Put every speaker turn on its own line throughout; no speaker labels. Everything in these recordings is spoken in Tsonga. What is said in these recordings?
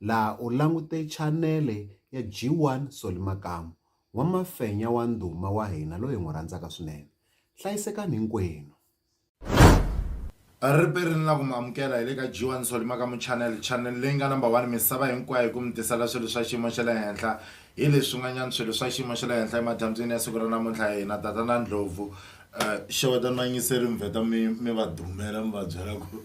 laha u langute chanele ya G1 Solly Makamu, n'wamafenya wa ndhuma wa hina loyi hi n'wi rhandzaka swinene. Hlayisekani hinkwenu!
Riperi ni la ku mi amukela hi le ka G1 Solly Makamu Channel, chanele leyi nga number one misava hinkwayo hi ku mi tisela swilo swa xiyimo xa le henhla hi leswi swin'wanyana swilo swa xiyimo xa le henhla emadyambyini ya siku ra namuntlha hi na tatana Ndlhovu xewetani vayingiseri mi vheta mi mi va dumela mi va byela ku.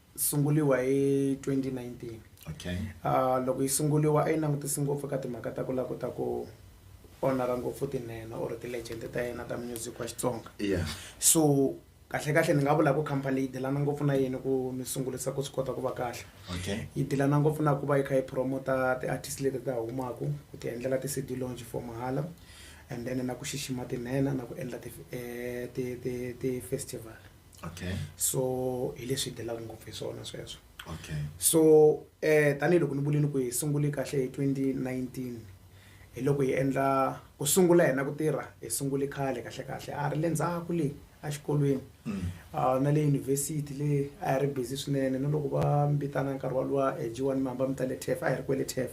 sunguriwa hi 2019 okay
uh, loko yi
sunguriwa a yi langutisi ngopfu ka timhaka ta ku la kota ku onara ngopfu tinene or ti-legend ta yena ta music wa xitsonga yeah. so kahle kahle ni nga vula ku company leyi dilana ngopfu na yini ku ni sungurisa ku swi kota ku va kahle okay. yi dilana
ngopfu na
ku va yi kha yi promota ti-artist leti ta humaku ku ti endlela ti-cd launch for mahala and then na ku xixima tinhena na ku endla ti-festival eh, ti, ti, ti okay so
hi
leswi hi telaka ngopfu hi swona sweswo okay so eh tanihiloko ni vulini ku hi sungule kahle hi 2019 hi loko hi endla ku sungula hina ku tirha hi sungule khale kahle kahle a ri le ndzhaku le exikolweni mm. ah, na le yunivhesiti le a hi ri busy swinene na loko va mbitana nkarhi walowa hi jiwani mihamba mi ta le tef a hi ri kwele tef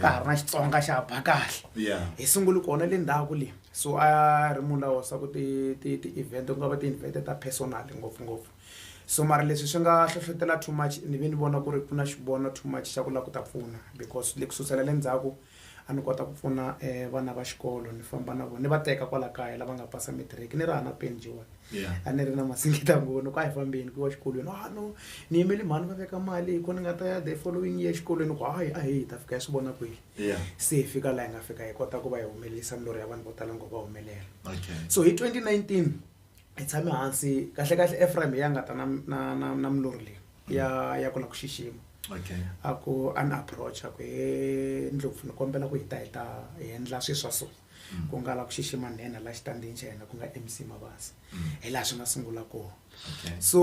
ka ha ri na xitsonga xa ba kahle yeah hi sungule
kona le
ndhaku le so a ri munhu lawa swa ku ti ti ti event ku nga va ti-invent ta personal ngopfungopfu so mara leswi swi nga hlohlotela too much ni ve ni vona ku ri ku na xivono too much xa ku lava ku ta pfuna because le ku susela le ndzhaku a ni kota ku pfuna um vana va xikolo ni famba na vona ni va teka kwala kaya lava nga pasa matric ni ri hava na peni njhe wani. a ni ri na
masingita
ngoni ku a hi fambeni ku wa xikolweni a ah, no ni yimele mhani va veka mali hi ko ni nga ta ya the following year xikolweni ku hayi a hi hi ta fika hi swi vona kwihi se hi fika
laha hi nga
fika hi kota ku va hi humelelisa milorho ya vanhu vo tala ngo va humelela so hi 2019 hi tshame hansi kahle kahle efraim ya nga ta na na na na milorho leyi ya ya ku la ku xixima a ku
an
approach a ku he ndlopfu ni kombela ku hi ta hi ta hi endla swi swa so mm. ku nga la ku xixima nhenha la xitandzini xa yena ku nga mc mabasa mm. hi laha swi nga sungula kona so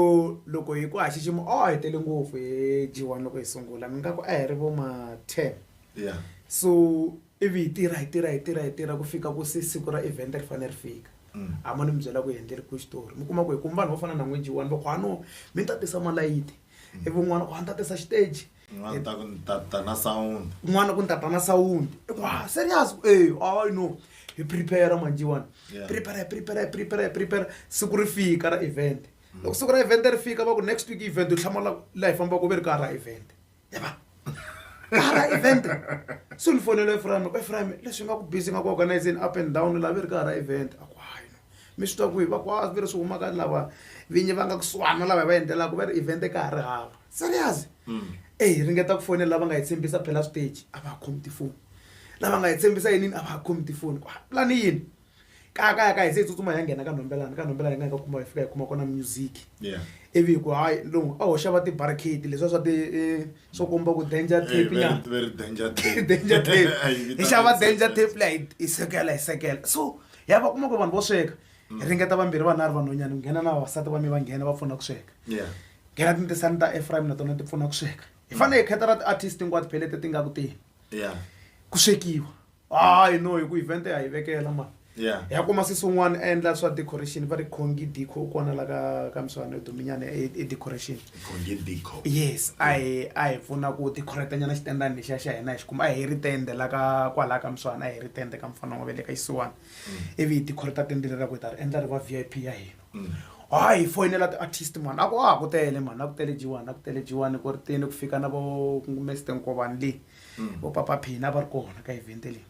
loko
hi ku ha xixima o oh, hi tele ngopfu hi g one loko hi sungula mi nga ku a hi ri vo ma ten
so
ivi hi tirha hi tirha hi tirha hi tirha ku fika ku se siku ra event ri fanele ri fika mm. a ma ni mi byela ku hi endleri ku xitori mi kuma ku hi kumu vanhu vo fana na n'we g one va ku hano mi ta tisa malayiti ivi un'wana ku a ni ta tisa xiteji N'wana ta ku ni ta
ta na sound. kun'wana ku ni tata na
sawundi wa serious e i no hi prepare manjiwani Yeah. prepare prepare prepare prepare siku ri fika ra event loko siku ra event ri fika va ku next week event u hlamala laha hi fambaka u ve ri ka ha ra event yava ka ha ra event se ni fonela eframe ku eframe leswi nga ku busy nga ku organizing up and down laha ve ri ka ha ra event a ku hayi no mi swi twa kwihi va ku a ve ri swi humaka lava vinyi va nga kusuhana lava hi va endlelaka va ri event ka ha ri hava serious eyi hi ringeta ku fonela lava nga hi tshembisa phela stage a va ha khomi tifoni lava nga hi tshembisa yinini a va ha khomi tifoni ku pulani yini kaya kaya ka hi se hi tsutsuma hi ya nghena ka nhombelani ka nhombelani hi nga hi ka kuma hi fika hi kuma kona music Yeah. ivi hi ku hayi lowu a hoxa va ti-barricade leswiya swa ti eh, swo komba ku danger Hey, tape very, nyana very danger tape.
danger tape
Ay, hi xava vitana danger tape leyi hi sekela hi sekela so ya va kuma ku vanhu vo sweka hi ringeta vambirhi vana a ri vanhwanyana nghena na vavasati va mi va nghena va pfuna ku sweka yeah nghena
tintisani ta
efraim na tona ti pfuna ku sweka hi fanele hi kheta ra ti-artist hinkwato phelete ti nga ku teni yeah
ku swekiwa
hayi no hi ku event ya hi vekela mani yeah hi ya kuma sisi
un'wana
a endla swa decoration va ri khongi dico kona la ka ka miswana yo duminyana e e decoration khonge dico
yes a hi
a hi pfuna ku decorate nyana xitendani lexiya xa hina hi xi kuma a hi ri tende la ka kwalaya ka miswana a hi ri tende ka mfana wa vele ka xisiwana ivi hi tikhori ta tendele ra ku hi ta ri endla ri va v i p ya hina ha hi foyinela ti-artist mani a ku a ku tele mani a ku tele jiwani a ku tele jiwani ku ri tini ku fika na vo mester nkovani leyi vo papa phina va ri kona ka evente leyi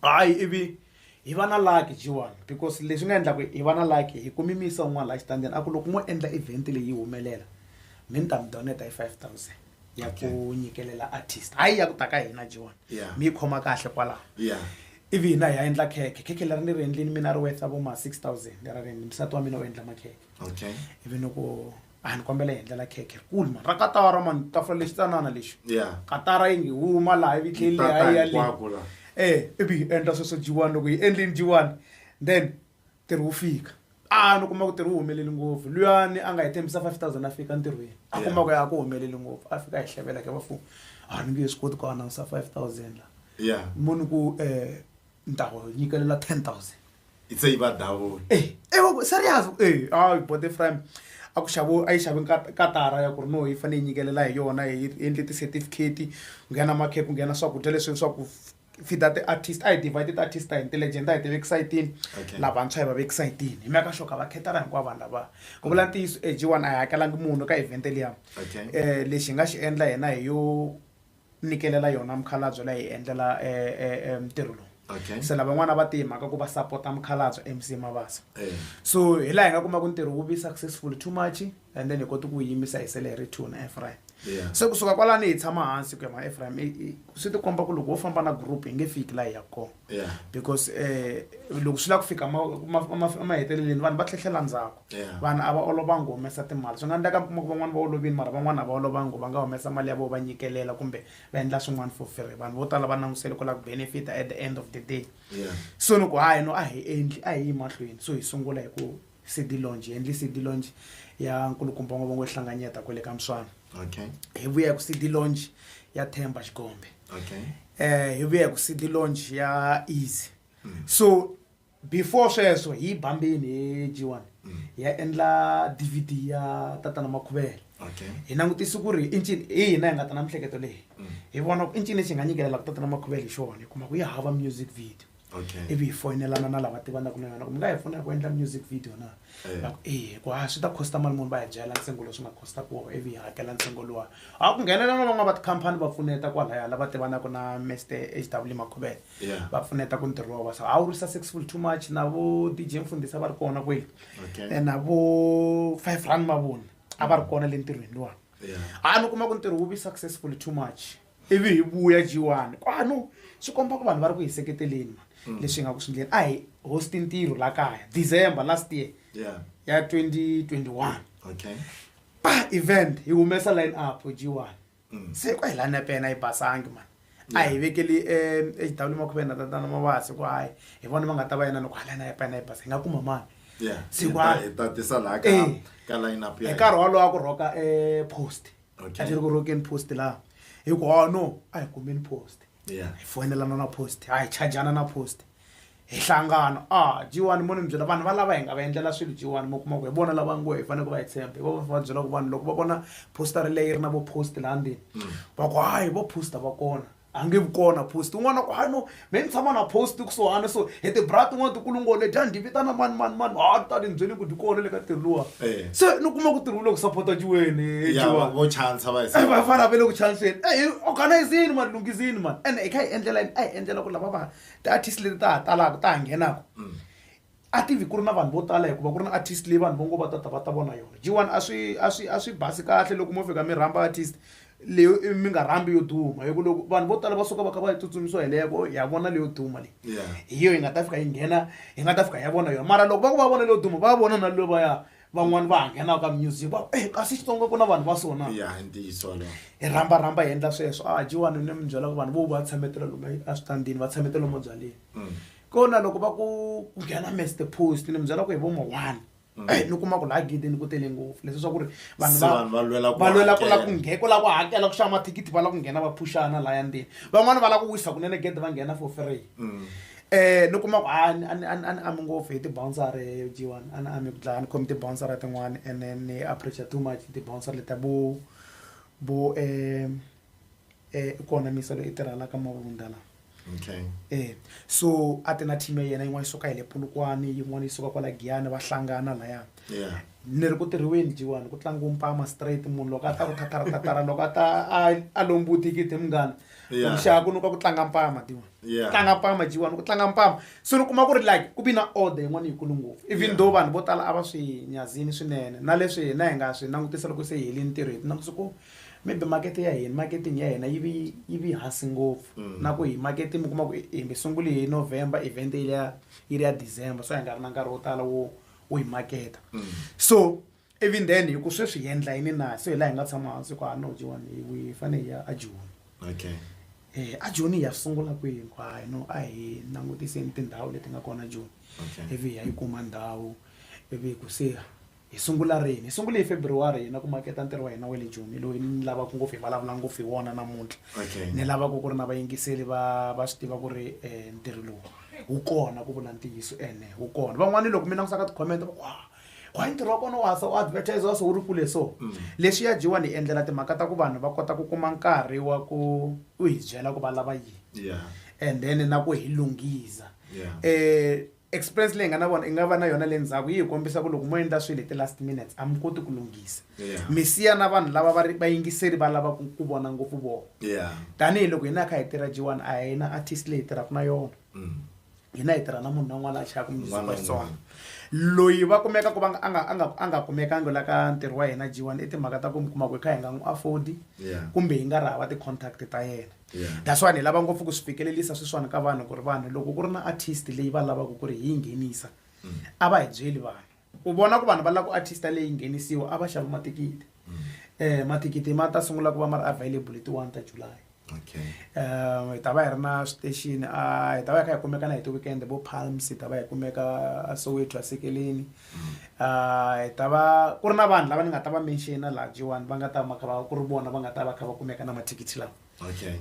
hayi ivi hi va na laki jiwani because leswi nga endlaku hi va na laki hi kumi misa un'wana laha xitandini a ku loko mo endla event leyi yi humelela mi ni ta mi doneta hi five thousand ya ku nyikelela artist hayi ya ku ta ka hina jiwani mi yi khoma kahle kwalaho Ivi hina hi ya endla khekhe. Khekhe leri ni ri endlini mina a ri worth-a vo ma six thousand ra rent. Nsati wa mina u endla makhekhe. Ivi ni ku, a ni kombela hi endlela khekhe rikulu mani, ra katara mani, tafula lexi tsanana lexi. Katara yi nge huma laha ivi yi tlhela yi leha yi ya le. Ivi hi endla sweswo dyiwani. Loko hi endlile dyiwani then. ntirho wu fika a ni kuma ku ntirho wu humeleli ngopfu luyani a nga hi tshembisa five thousand a fika ntirhweni a kuma ku ya a ku humeleli ngopfu a fika a hi hlevela ke vafumu a ni nge swi koti ku anawunsa five thousand la ya muni ku um ni ta ku nyikelela ten thousand
itse yi va
dawula
Eh, eh, wa ku-
serious
eh a yi
bote frame a ku xavo a yi xave nkat- katara ya ku ri no yi fanele yi nyikelela hi yona hi endle ti-certificate ku nghena makhephu ku nghena swakudya leswi swa ku fida ti-artist a hi tiva hi ti-artist a hi intelligent a hi ti vekisa yi tini Okay. lavantshwa hi va vekisa yi tini hi mhaka xoka va khetana hinkwavo vanhu lava ku vula ntiyiso eg one a hi hakelangi munhu ka event liya Okay. um lexi hi nga xi endla hina hi yo nyikelela yona mukhalabye la hi endlela um ntirho lowu Okay. se lavan'wana va tihi mhaka ku va sapota mukhalabye mc mabasa Eh. so hi laha hi nga kuma ku ntirho wu vi successful too much and then hi koti ku yimisa hi sele hi ri two na efraim se kusuka kwalani hi tshama hansi ku ya ma efraim swi ti komba ku loko wo famba na group hi nge fiki laha hi ya kona because um loko swi lava ku fika maheteleleni vanhu va tlhehlela ndzhaku vanhu a va olovangi ku humesa timali swi nga endleka mi kuma ku van'wana va olovini mara van'wana a va olovangi va nga humesa mali ya vo va nyikelela kumbe va endla swin'wana for free vanhu vo tala va langusele ku lava ku benefita at the end of the day so ni ku hayi no a hi endli a hi yi mahlweni so hi sungula hi ku City Lounge, Henley City Lounge ya nkulukumba n'wavongo wo hlanganyeta kwale ka Mswana. Okay. Hi vuya ku City Lounge ya Themba Xikombe. Okay. Eh hi vuya ku City Lounge ya Easy. So before sweswo hi yi bambini hi G1 hi ya endla DVD ya tatana Makhuvela. Okay. Hi langutise ku ri i ncini hi hina hi nga ta na mihleketo leyi. Hi vona ku i ncini lexi hi nga nyikelela ku tatana Makhuvela hi xona hi kuma ku ya hava music video. okay ivi hi foyinelana na lava tivanaka na yona ku mi nga hi pfuna ku endla music video na Eh. va ku e hikuva a swi ta costa mali munhu va hi byela ntsengo lowu swi nga costa ku ivi hi hakela ntsengo luwa a ku nghenelela na van'wana va tikhampani va pfuneta kwalaya lava tivanaka na mr h w makhubele Yeah. va pfuneta ku ntirho wa vasa a wu ri successful too much na vo dj mfundhisa va ri kona kweli Okay. Eh, na vo five rand mavoni a va ri kona le ntirhweni luwani yeah a ni kuma ku ntirho wu vi successful too much ivi hi vuya G1 kwanu swi komba ku vanhu va ri ku hi seketeleni man mm. leswi hi nga ku swi ndleni a hi hosti ntirho la kaya December last year yeah. ya 2021 okay. pa event hi humesa line up G1 mm. se kwa hi la nepena yi basangi man a hi vekeli exidawuli eh, makhuvena tatana mavasi ku hayi hi vona va nga ta va yena loko halana ya pena yi basa hi nga kuma mani sikwaahi
eh, nkarhi wolowo a ku rhoka
um post a xi ri ku rokeni post laha hi ku hawa no a hi kumeni post hi foyinelana na post a hi chajana na post hi hlangana a ah, jiwani mo ni mi byela vanhu va lava hi nga va endlela swilo jiwani mo kuma ku hi vona lava ngo hi fanele ku va hi tshemba hi va va va byela ku vanhu loko va vona poster leyi ri na vo post laha ndzeni mm. va ku hayi vo poster va kona a nge vi kona post un'wana ku a no me ni tshama na post kusuhana so hi tibra tin'wana tikulungole dya ndi vitana mani mani mani a ti tali ni byeli ku dyi kona le ka tirhi luwa Eh. se ni kuma ku tirhi wu le ku sapota jiweni ya jiwa vo chansa
va hi Eh, va fana ve le ku
chanseni eyi organizini mani lunghizini mani ene hi kha hi endlela yini a hi endlela ku lava va ti-artist leti ta ha talaka ta ha nghenaka a tivi ku ri na vanhu vo tala hikuva ku ri na artist leyi vanhu vo ngo va ta ta va ta vona yona g one a swi a swi a swi basi kahle loko mo fika mi rhamba artist leyo i mi nga rhambi yo duma hi ku loko vanhu vo tala va suka va kha va yi tsutsumisiwa hi leyako ya vona leyo duma leyi Yeah. hi yo yi nga ta fika yi nghena yi nga ta fika ya vona yona mara loko va ku va vona leyo duma va vona na levaya van'wani va ha nghenaka ka music va e kasi xitsonga ku na vanhu va so na ya i ntiyiso walowo hi rhamba rhamba hi endla sweswo a jiwani ni mi byela ku vanhu vo va tshametela lomu eswitandini va tshametela lomu byaleni kona loko va ku ku nghena mester post ni mi byela ku hi vomo one mm. eh, ni kuma ku laha gidini ku tele ngopfu leswi swa ku ri vanhu va lwela ku la ku la ku hakela ku xava mathikithi va la ku nghena va phuxana laya ndini van'wani va la ku wisa kunene gede va nghena for free um ni kuma ku a ni ami ngopfu hi tibouncer jiwani a ni ami ku dlaya ni khomi tibouncer tin'wani and then ni appreciate too much tibouncer leta bo bo um i kona misa loyi i tirhelaka mavundala okay e so a ti na team ya yena yin'wana yi suka hi le pulukwani yin'wana yi suka kwala giyani va hlangana laya yeah ni ri ku tirhiweni jiwani ku tlangiwa mpama straight munhu loko a ta ku thathara thathara loko a ta a- a lombuti kiti munghana Yeah. kuxaka ku nuka ku tlanga mpama tiwa Yeah. tlanga mpama jiwani ku tlanga mpama so ni kuma ku ri like ku vi na order yin'wana yikulu ngopfu even Yeah. though vanhu vo tala a va swi nyazini swinene na leswi hina hi nga swi langutisa loko se hi helini ntirho hi ti langutisa ku maybe makete ya hina marketing ya hina yi vi yi vi hansi ngopfu mm. na ku hi makete mi kuma ku hi mi sunguli hi november event yi ya yi ri ya december so hi nga ri na nkarhi wo tala wo wo hi maketa mm. so even then hi ku sweswi hi endla yini na so hi laha hi nga tshama hansi ku a no jiwani hi fanele hi ya a joni okay eh a joni ya sungula kwihi ku hayi no a hi langutiseni tindhawu leti nga kona joni ivi hi ya yi kuma ndhawu ivi hi ku se Hi sungula rini? Hi sungule hi February hina ku maketa ntirho wa hina wa le Joni, loyi ni lavaka ngopfu hi vulavula ngopfu hi wona namuntlha. Okay. Ni lavaka ku ri na vayingiseli va va swi tiva ku ri eh, ntirho lowu wu kona ku vula ntiyiso ene wu kona. Van'wana loko mi langusa ka ti-comment va ku wa wa ntirho wa kona wa sa u advertise wa so wu ri kule so. Lexi ya Jiwa ni endlela timhaka ta ku vanhu va kota ku kuma nkarhi wa ku u hi byela ku va lava yini Yeah. and then na ku hi lunghiza. Yeah. Eh experience leyi hi nga na vona i nga va na yona le ndzhaku yi hi kombisa ku loko mo endla swilo hi ti-last minutes a mi koti ku lunghisa Yeah. mi siya na vanhu lava va ri vayingiseri va lava ku ku vona ngopfu vona yeah tanihiloko hina hi kha hi tirha jiwani a hi na artist leyi hi tirhaka na yona Mm. hina hi tirha na munhu na un'wana a chayaka music Un'wana wa na xitsonga un'wana. loyi va kumeka ku va nga- a nga- a nga- a nga kumekangi la ka ntirho wa hina jiwani i timhaka ta ku mi kuma ku hi kha hi nga n'wi afodi Yeah. kumbe hi nga ri hava ti-contact ta yena yeah. that's why ni lava ngopfu ku swi fikelelisa swiswana ka vanhu ku ri vanhu loko ku ri na artist leyi va lavaka ku ri hi yi nghenisa mm. a va hi byeli vanhu u vona ku vanhu va lava ku artist leyi nghenisiwa a va xava matikiti mm. eh matikiti ma ta sungula ku va ma ri available hi ti one ta july okay um hi ta va hi ri na station a hi ta va hi kha hi kumeka na hi ti weekend vo palms hi ta va hi kumeka soweto asekeleni hi ta va ku ri na vanhu lava ni nga ta va menxina laha jiwani va nga ta va kha va ku ri vona va nga ta va kha va kumeka na mathikithi lawa okay.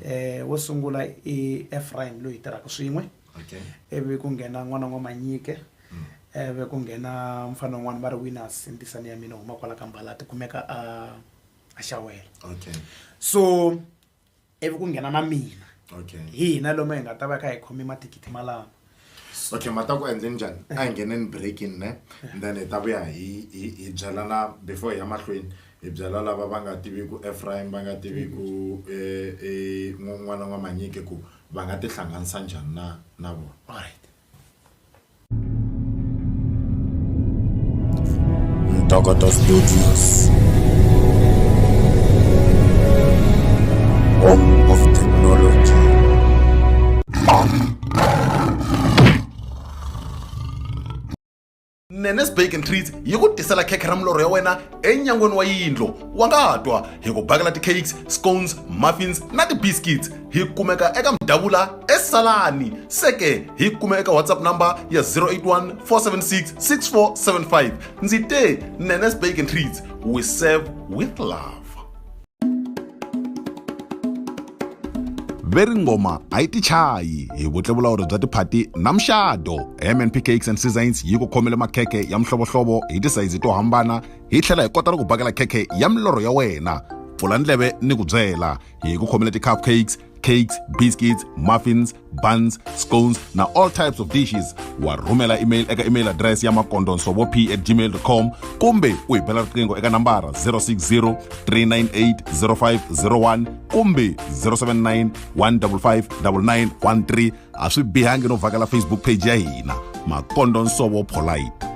um wo sungula i efraim loyi hi tirhaka swin'we okay. ivi ku nghena n'wana n'wa manyike mm. ivi ku nghena mfana un'wana va ri winners ntisani ya mina huma kwala ka mbala ti kumeka a a xawela okay. so ivi ku nghena na mina okay hi hina lomu hi nga ta va kha hi khome mathikithi malama okay ma ta
ku endle njhani a hi ngheneni breaking ne then hi ta vuya hi hi hi byelana before hi ya mahlweni hi byela lava va nga tiviku efraim va nga tiviku n'wana n'wamanyike ku va nga tihlanganisa njhani na na vona alright
Tokoto Studios. Home of Technology.
nenes bake and treats yi ku tisela khekhe ra milorho ya wena enyangweni wa yindlo wa nga twa hi ku bakela ti-cakes scones muffins na ti-biscuits hi kumeka eka mudavula esalani seke hi kume eka whatsapp number ya 081 476 6475 ndzi te nenes bake and treats we serve with love veri ngoma a yi tichayi hi vutlevulawuri bya tiphati na muxado mnp cakes and seasons yi ku khomele makhekhe ya mihlovohlovo hi tisayizi to hambana hi tlhela hi kota na ku bakela khekhe ya milorho ya wena pfula ndleve ni ku byela hi ku khomela ti-cupcakes cakes biscuits muffins buns scones na all types of dishes wa rhumela email eka email address ya makondo nsovo p at gmail com kumbe u hi bela riqingho eka nambara 060 398 0501 kumbe 079 155 9913 a swi bihangi no vhakela facebook page ya hina makondo nsovo polite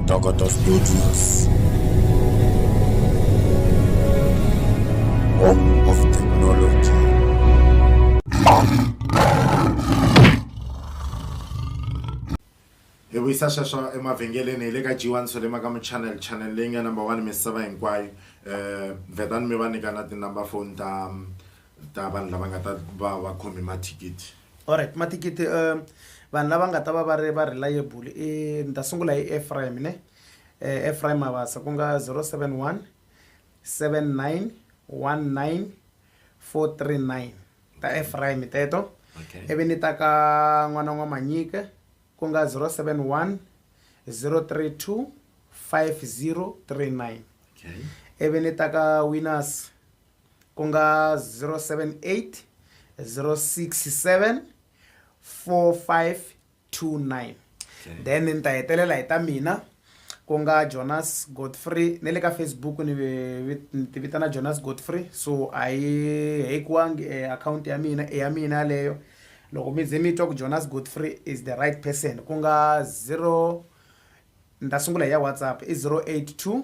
Togoto Studios. Home of Technology.
hi vuyisa sweswo emavhengeleni hi le ka g1 swo lema ka muchannel channel leyi nga number one misava hinkwayo um vhetani mi va nyika na tinumber phone ta ta vanhu lava nga ta va va khome mathikithi alright mathikithi
um vanhu lava nga ta va va ri va reliable i ni ta sungula hi efraim ne um efraim mavasa ku nga zero seven one seven nine one nine four three nine ta efraim teto ivi ni ta ka n'wana n'wa manyike ku nga zero seven one zero three two five zero three nine ivi ni ta ka winners ku nga 078 067 4529 then ni ta hetelela hi ta mina ku nga jonas godfrey ne le ka facebook ni ti vitana jonas godfrey so a yi hekiwangi e eh, akhawunti ya mina i ya mina yaleyo loko mi ze mi twa ku jonas godfrey is the right person ku nga 0 ni ta sungula hi ya whatsapp i 082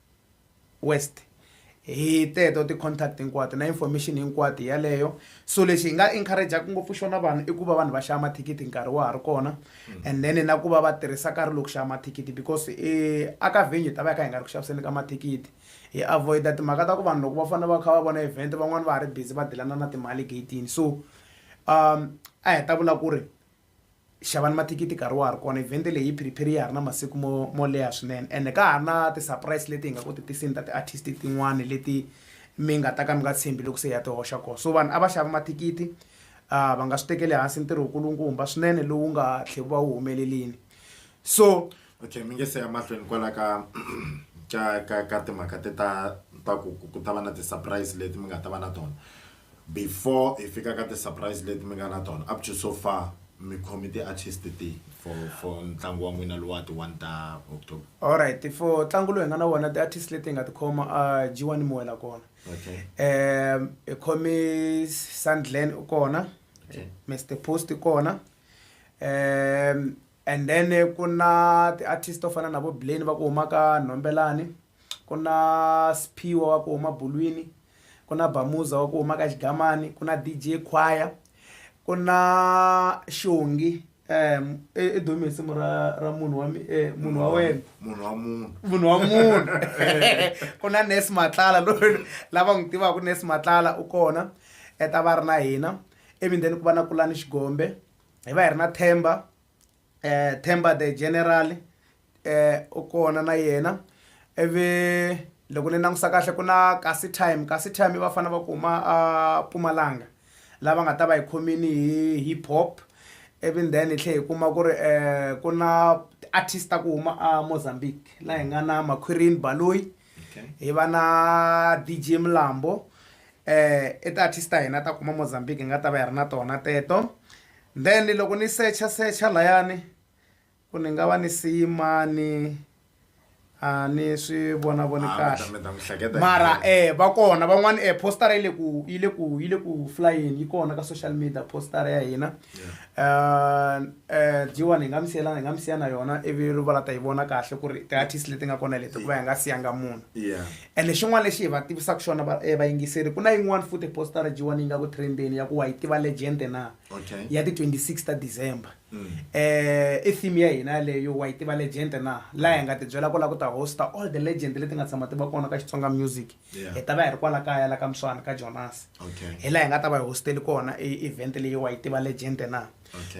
west hi teto ti-contact hinkwato na information hinkwato yaleyo so lexi hi nga encouragaka ngopfu xona vanhu i ku va vanhu va xava mathikithi nkarhi wa ha ri kona mm. and then na ku va va tirhisa nkarhi loko xava mathikithi because e, aka venue ta va ya ka hi nga ri ku xaviseni ka mathikithi hi avoida timhaka ta ku vanhu loko va fanele va kha va vona event van'wani va ha ri busy va dilana na timali gatini so um a hi ta vula ku ri xavani mathikithi nkarhi wa ha ri kona evhente leyi yi phiriphiri ya ha ri na masiku mo mo leha swinene ende ka ha ri na ti-surprise leti hi nga ku ti tisini ta ti-artist tin'wani leti mi nga ta ka mi nga tshembi loko se hi ya ti hoxa kona so vanhu a va xava mathikithi um va nga swi tekeli hansi ntirho wu kulukumba swinene lowu nga tlhe wu va wu humelelini so okay mi nge se
ya mahlweni kwala ka ka ka ka timhaka te ta ta ku ku ta va na ti-surprise leti mi nga ta va na tona before hi fika ka ti surprise leti mi nga na tona up to so far mi khomi ti artist ti for for ntlangu wa n'wina lowa ti one ta october alright for
ntlangu lowu hi nga na wona ti artist leti hi nga tikhoma a jiwani muwela kona okay
um hi
khome sandlen u kona Okay. mr
post
kona um And then ku na ti artist to fana na vo Blane va ku huma ka Nhombelani ku na Sphiwe wa ku huma Bulwini ku na Bamuza wa ku huma ka Xigamani ku na D_J Khwaya ku na Xongi i dume hi nsimu ra ra munhu wa munhu wa wena munhu wa munhu munhu wa munhu ku na Nurse Matlala loyi lava n'wi tivaka Nurse Matlala u kona ta va ri na hina ivi then ku va na Kulani Xigombe. hi va hi ri na themba eh themba the general eh u kona na yena ivi loko ni langusa kahle ku na kasi time kasi time i vafana va ku huma a Mpumalanga lava nga ta va hi khomini hi hip hop ivi then hi tlhela hi kuma ku ri ku na ti-artist ta ku huma a Mozambique laha hi nga na Makhwirini Baloyi. okay. hi va na dj mlambo eh i ti-artist ta hina ta kuma mozambique hi nga ta va hi ri na tona teto then loko ni secha secha layani ku ni nga va ni siyimani a ni swi vona voni ah, kahle mara eh va kona van'wani eh postara yi le ku yi le ku yi le ku flyeni yi kona ka social media postara ya hina Um um jiwani hi nga mi siyelana hi nga mi siya na yona ivi va la ta yi vona kahle ku ri ti-artist leti nga kona leti ku va hi nga siyanga munhu yeah ene xin'wana lexi hi va tivisaka xona va- eh, vayingiseri ku na yin'wana futhi postara jiwani yi nga ku trendeni ya ku wa yi tiva legend na Okay. ya ti-26 ta december Mm. eh i theme ya hina yaleyo wa yi tiva legend na laha hi nga tibyela ku la ku ta hosta all the legend leti nga tshama ti va kona ka xitsonga music hi ta va hi ri kwala kaya la ka muswana ka jonasi hi laha hi nga ta va hi hosteli kona event leyi wa yi tiva legend na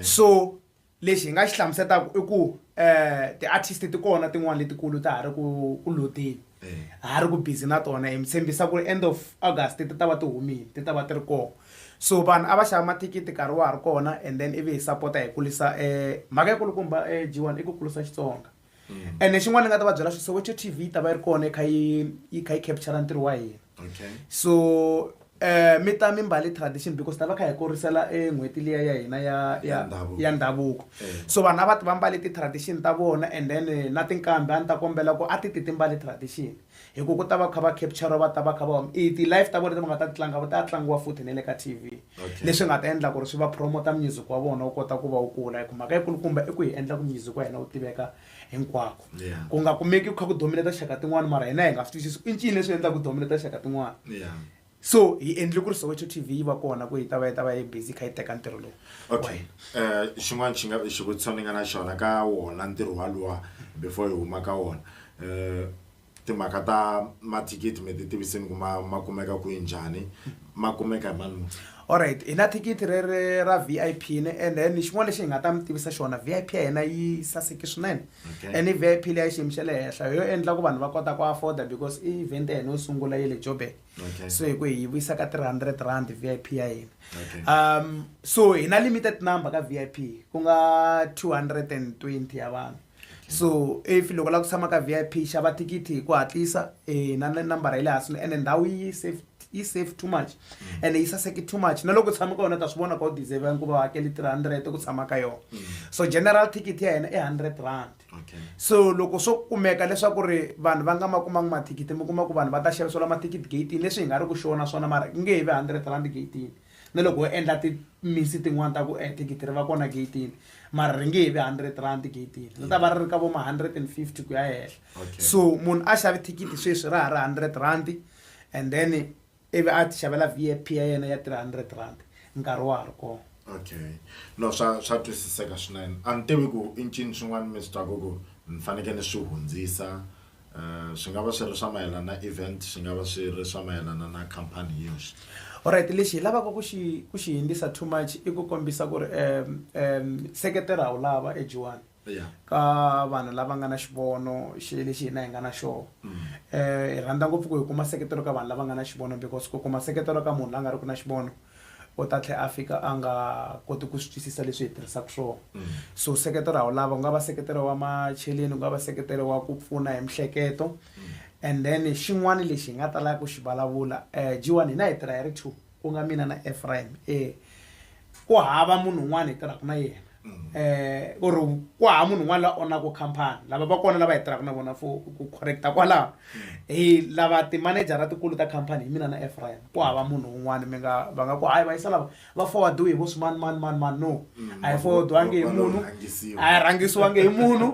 so lexi hi nga xi hlamusetaka i ku um eh, ti-artist ti kona tin'wana letikulu ta ha ri ku ku lodeni ha ri ku busy na tona hi mi tshembisa ku ri end of august ti ta va ti humile ti ta va ti ri kona so vanhu a va xava mathikithi nkarhi wa ha ri kona and then ivi hi sapota hi kulisa um mhaka ya kulukumba um eh, g one i ku kulisa xitsonga Mm. ene xin'wana ni nga ta va byela swi soweto t v yi ta va yi ri kona yi kha yi yi kha yi capture ntirho wa hina okay so um mi ta mimbali tradition because ta va kha hi kurisela e n'hweti liya ya hina ya Ya ya ndhavuko. ya ndhavuko Eh. so vanhu a va ti va mbale ti-tradition ta vona and then eh, na tinkambi a ni ta kombela ku a ti ti ti mbale tradition hi ku ku ta va kha va capture va ta va kha va i ti-life ta vona leti va nga ta ti tlanga va ta tlangiwa futhi ne le ka tv leswi nga ta endla ku ri swi va promota music wa vona wu kota ku va wu kula hi ku mhaka yikulukumba i ku hi endla ku music wa hina wu tiveka hinkwako ku nga kumeki ku kha ku domineta xaka tin'wana mara hina hi nga swi twisisi i ncini leswi endlaka ku domineta xaka tin'wana so hi endle ku ri soweto t v yi va kona ku yi ta va yi ta va yi busy yi kha yi teka ntirho lowu okay
um xin'wana xi nga xivutiso ni nga na xona ka wona ntirho walowa before hi huma ka wona um timhaka ta mathikithi mi ti tivisini ku ma ma kumeka kwihi njhani ma kumeka hi mani alright hi na
thikithi re re ra v i p ni and then xin'wana lexi hi nga ta mi tivisa xona v i p ya hina yi saseke swinene Okay. and ivp leyi xiyimo xa le henhla yo endla ku vanhu va kota ku afforda because i event ya hina yo sungula ye le joburg Okay. so hi ku hi vuyisa ka 300 rand vip ya hina Okay. um so hi na limited number ka vip ku nga 220 ya vanhu so if loko la ku tshama ka vip xava thikithi hi ku hatlisa eh, na na nambara ya le hansi ene ndhawu yi safe yi safe too much mm. and yi saseke too much na loko tshama ka yona ta swi vona ka u deserve ya nkuva hakeli 300 ku tshama ka yona mm. so general ticket ya yena i 100 rand so loko swo kumeka leswaku ri vanhu va nga ma kumangi mathikithi mi kuma ku vanhu va ta xavisela mathikithi gatini leswi hi nga ri ku xona swona mara ku nge hi ve 100 rand gatini na loko ho endla timisi tin'wana ta ku eh, thikithi ri va kona gatini mara ri nge hi ve 100 rand gatini ri ta va ri ri ka vo ma 150 ku ya henhla so munhu a xavi thikithi sweswi ra ha ri 100 rand and then ivi a ti xavela vip ya yena ya 300 rand nkarhi wa ha ri kona okay
no swa swa twisiseka swinene a ni tivi ku i ncini swin'wana mi swi twaku ku ni faneke ni swi hundzisa um swi nga va swi ri swa mayelana na event swi nga va swi ri swa mayelana na company hi yoxe alright lexi hi
lavaka ku xi ku xi hindzisa too much i ku kombisa ku ri um um seketela wu lava ejiwani Yeah. ka vanhu lava nga na xivono xi lexi hina hi nga na xoho um hi rhandza ngopfu ku hi kuma seketelo ka vanhu lava nga na xivono because ku kuma seketelo ka munhu la nga ri ku na xivono u ta tlhela a fika a nga koti ku swi twisisa leswi hi tirhisaka swona so seketelo a wu lava ku nga va seketelo wa macheleni ku nga va seketelo wa ku pfuna hi mihleketo and then xin'wana lexi hi nga talaka ku xi vulavula um jiwani hina hi tirha hi ri two ku nga mina na Ephraim eh ku hava munhu un'wana hi tirhaka na yena mm. eh or ku hava munhu un'wana la onaka company lava va kona lava hi tirhaka na vona for ku correcta kwalaho mm. hi lava timanejara tikulu ta company hi mina na Ephraim ku hava munhu un'wana mi nga va nga ku hayi va yisa lava va forwardiwe hi vo swimani mani mani mani no mm. a hi forwardiwangi hi munhu a hi rhangisiwangi hi munhu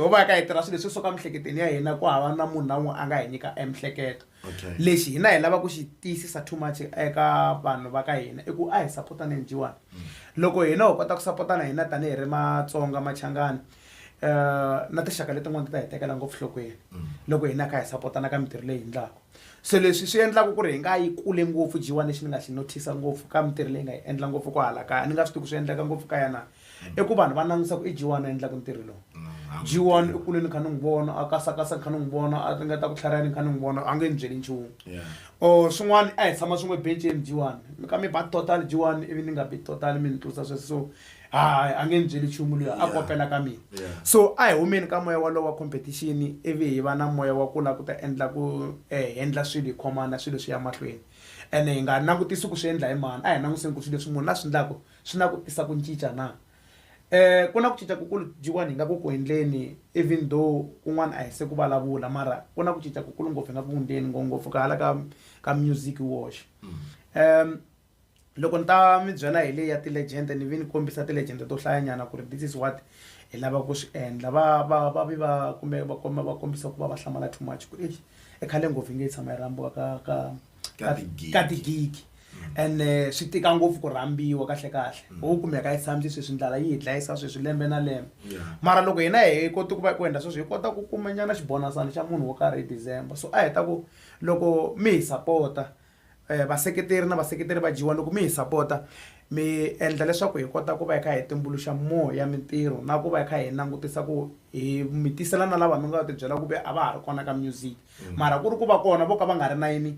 ho va ka hi tirha swilo leswi swo ka miehleketweni ya hina ku hava na munhu na un'we a nga hi nyika emihleketo Okay. lexi hina hi lava ku xi tiyisisa too much eka vanhu va ka hina i ku a hi sapotane njiwani loko hina ho kota ku sapotana hina tanihi ri matsonga machangani um na tinxaka letin'wana ti ta hi tekela ngopfu hlokweni loko hina hi kha hi sapotana ka mintirho leyi hi endlaka so leswi swi endlaka ku ri hi nga yi kule ngopfu jiwani lexi ni nga xi notice ngopfu ka mintirho leyi nga yi endla ngopfu ko hala kaya ni nga swi tivi ku swi endleka ngopfu kaya na i ku vanhu va langutisa ku i jiwani a endlaka ntirho lowu jiwani i kule ni kha ni n'wi vona a kasakasa ni kha ni n'wi vona a ringeta ku tlhariha ni kha ni n'wi vona a nge ni byeli nchumu or swin'wana a hi tshama swin'we benceni jiwani mi ka mi ba total jiwani ivi ni nga bi total mi ni tlurisa sweswo so hayi a nge ni byeli nchumu loyi a kopela ka mina so a hi humeni ka moya walowo wa competition ivi hi va na moya wa ku lava ku ta endla ku um hendla swilo hi khomana swilo swi ya mahlweni ene hi nga langutisi ku swi endla hi mani a hi langutiseni ku swilo leswi munhu la swi endlaka Swi na ku tisa ku ncinca na? E, ku na ku cinca ku kulu jiwani hi nga ku ku endleni, even though kun'wana a hi se ku valavula mara ku na ku cinca ku kulu ngopfu hi nga ku ku ndleni ngopfu ka hala ka ka music hi woxe. Um, loko ni ta mi byela hi leyi ya ti-legend ni ve ni kombisa ti-legend to hlayanyana ku ri this is what hi lava ku swi endla va va va vi va kumbe va komba va kombisa ku va va hlamala too much ku eish i khale ngopfu yi nge yi tshama yi rambiwa ka ka Ka tigigi. ka tigigi ene eh, swi tika ngopfu ku rhambiwa kahle kahle mm. ho kumeka yi tshamisi sweswi ndlala yi hi dlayisa sweswi lembe na lembe mara loko hina hi koti ku va ku endla sweswi hi kota ku kuma nyana xibonasana xa munhu wo karhi hi december so a hi ta ku loko mi hi sapota um eh, vaseketeri na vaseketeri va dyiwa loko mi hi sapota mi endla leswaku hi kota ku va hi kha hi tumbuluxa moya mintirho na ku va hi kha hi langutisa ku hi mi tisela na lava mi nga ti byela ku ve a va ha ri kona ka music mm. mara ku ri ku va kona vo ka va nga ri na yini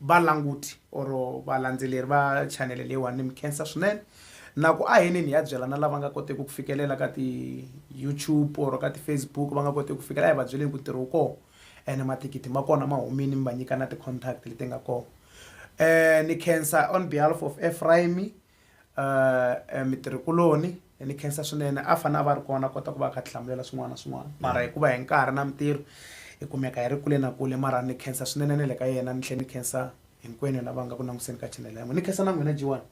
Valanguti or valandzeleri va chanele leyiwani ni mi khensa swinene na ku aheneni hi ya byela na lava nga koteki ku fikelela ka ti YouTube or ka ti Facebook va nga koteki ku fikelela hi va byeleni ku ntirho wu koho ene mathikithi ma kona ma humini mi va nyika na ti contact leti nga koho ni khensa on behalf of Ephraim Uh, mitirhikuloni ni khensa swinene a fanele a va ri kona kota ku va kha tihlamulela swin'wana na swin'wana mara hikuva hi nkarhi na mitirho hi kumeka hi ri kule na kule mara ni khensa swinene na le ka yena ni tlhela ni khensa hinkwenu lava nga ku languseni ka chanel ya n'wina ni khensa na n'wina jiwani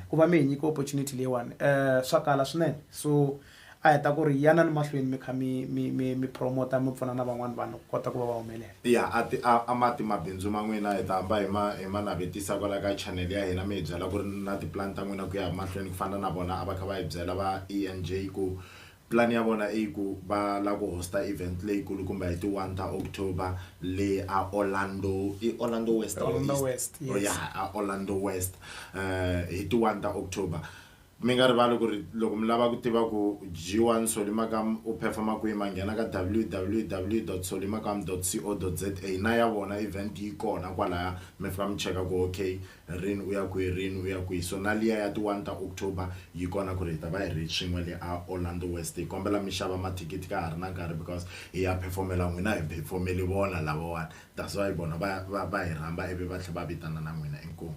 ku va mi hi nyika opportunity leyiwani um swa kala swinene so A heta ku ri, Yanani mahlweni mi kha mi mi mi mi puromota mi pfuna na van'wana vanhu ku kota ku va va humelela. Ya, a ti a a ma
ti mabindzu ma n'wina hi ta hamba hi ma hi ma navetisa kwalaya ka channel ya hina mi hi byela ku ri na tipulani ta n'wina ku ya mahlweni ku fana na vona a va kha va hi byela va ENJ ku plan ya vona i ku va la ku host-a event leyikulukumba hi ti one ta October le a Orlando i Orlando West
or East Orlando
West yes a Orlando West hi ti one ta October. Mi nga rivali ku ri loko mi lava ku tiva ku G1 Solimakam u performa kwihi ma nghena ka www dot solimakam dot co dot za na ya vona event yi kona kwalaya mi fika mi cheka ku ok rini u ya kwihi rini u ya kwihi so na liya ya ti one ta October yi kona ku ri hi ta va hi ri swin'we le a Orlando West hi kombela mi xava mathikithi ka ha ri na nkarhi because hi ya perform-ela n'wina hi phefomeli vona lavawani that's why vona va va va hi rhamba ivi va tlhe va vitana na n'wina inkomu.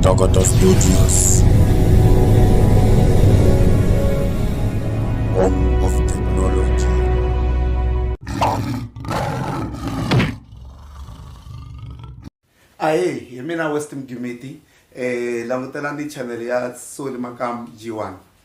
Tagata Studios.
Home of Technology.
ahe hi mina west mgimiti um langutelani channel ya soli makam g1